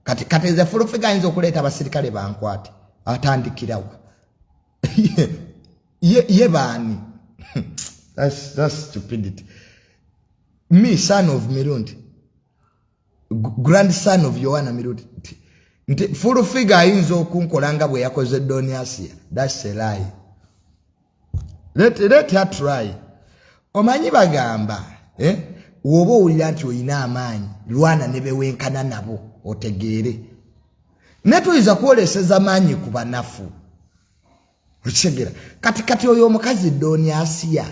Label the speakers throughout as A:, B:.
A: kati kati nze fulufiga ayinza okuleeta abasirikale bankwate atandikirawa ye baani stupidity me son of mirundi grand son of yohana mirundi nti fulufiga ayinza okunkola nga bwe yakoze doniasia that's a lie let, let her try omanyi bagamba eh? woba owulira nti olina amaanyi lwana ne bewenkana nabo otegeere naye tuyinza kwoleseza maanyi ku banafu okitegera kati kati oyo omukazi dooni asiya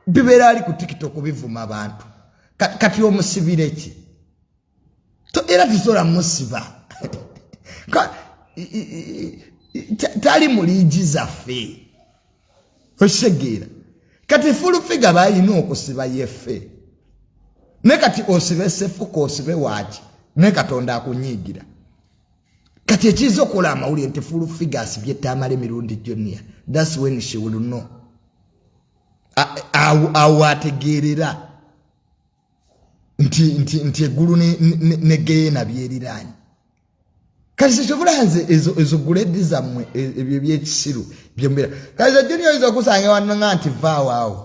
A: bibeera ali ku tiktok bivuma bantu kati omusibire ki to era tusobola musiba tali mu liigi zaffe okitegeera kati fulufiga balina okusiba yeffe ne kati osibe sefuka osibe waaki naye katonda akunyiigira kati ekiyinza okukola amawulire nti fulu figures byetamala emirundi jonia thats when she will know awo ategeerera nti nti nti eggulu ne, ne, ne geyena byeriraanye kati kyekyovola nze ezo, ezo guledi zammwe e, ebyo ebyekisiru byembeera kati zajjoni oyinza okusanga wanonga nti vaawaawo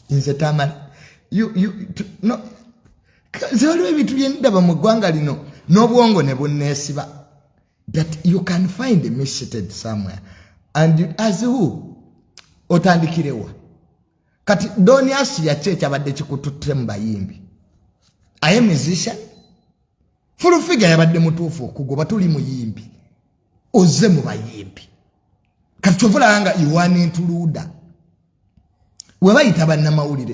A: nze tamala zewaliwo ebintu byendaba mu ggwanga lino n'obwongo ne bunneesiba that you can find me seated somewhere and you as who otandikirewa kati doni asi yaki ekyabadde kikututte mu bayimbi aye musician fulufiga yabadde mutuufu okugoba tuli muyimbi oze mu bayimbi kati kyovulaba nga yowana entuluuda webayita bannamawulire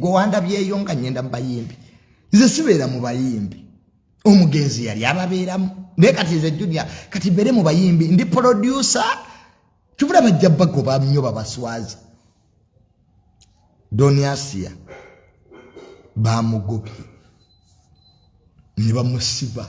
A: gwewandabyeyo nga nyenda mu bayimbi nze sibeera mu bayimbi omugenzi yali ababeeramu naye kati nze junia kati mbeere mu bayimbi ndi polodyusa kyovula bajja bagoba nnyo babaswaza doniasia bamugobye ne bamusiba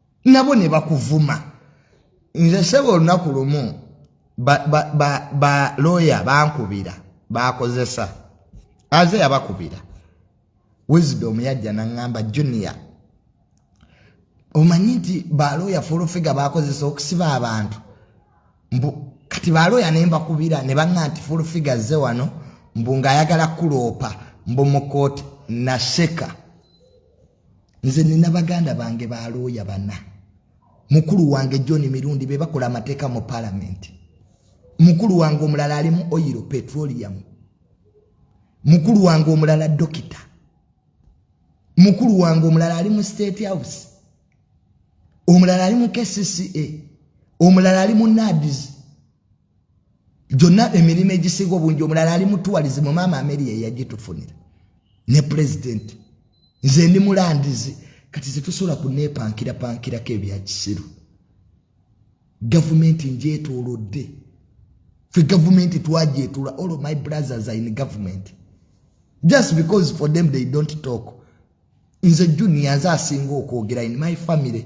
A: nabo ne bakuvuma nze sebo olunaku lumu balooya ba, ba, bankubira bakozesa aze yabakubira wisdom yajja naŋŋamba junior omanyi nti balooya fulufiga bakozesa okusiba abantu mbu kati balooya ne mbakubira ne baŋŋa nti fulufiga zze wano mbu ng'ayagala kuloopa mbu mu kooti naseka nze nina baganda bange balooya bana mukulu wange john mirundi be bakola amateeka mu palamenti mukulu wange omulala ali mu oyiro petroleum mukulu wange omulala dokita mukulu wange omulala ali mu state house omulala ali mu kcca omulala ali mu nadis gyonna emirimu egisinga obungi omulala ali mutuwalizi mu maama ameri yeyagitufunira ne pulezidenti nze ndi mulandizi kati zetusobola kunepankira pankirako ebyakisiru gavumenti njetolodde fe gavumenti twajetula all my brothers are in government just because for them they don't talk nze junior nze asinga okwogera in my family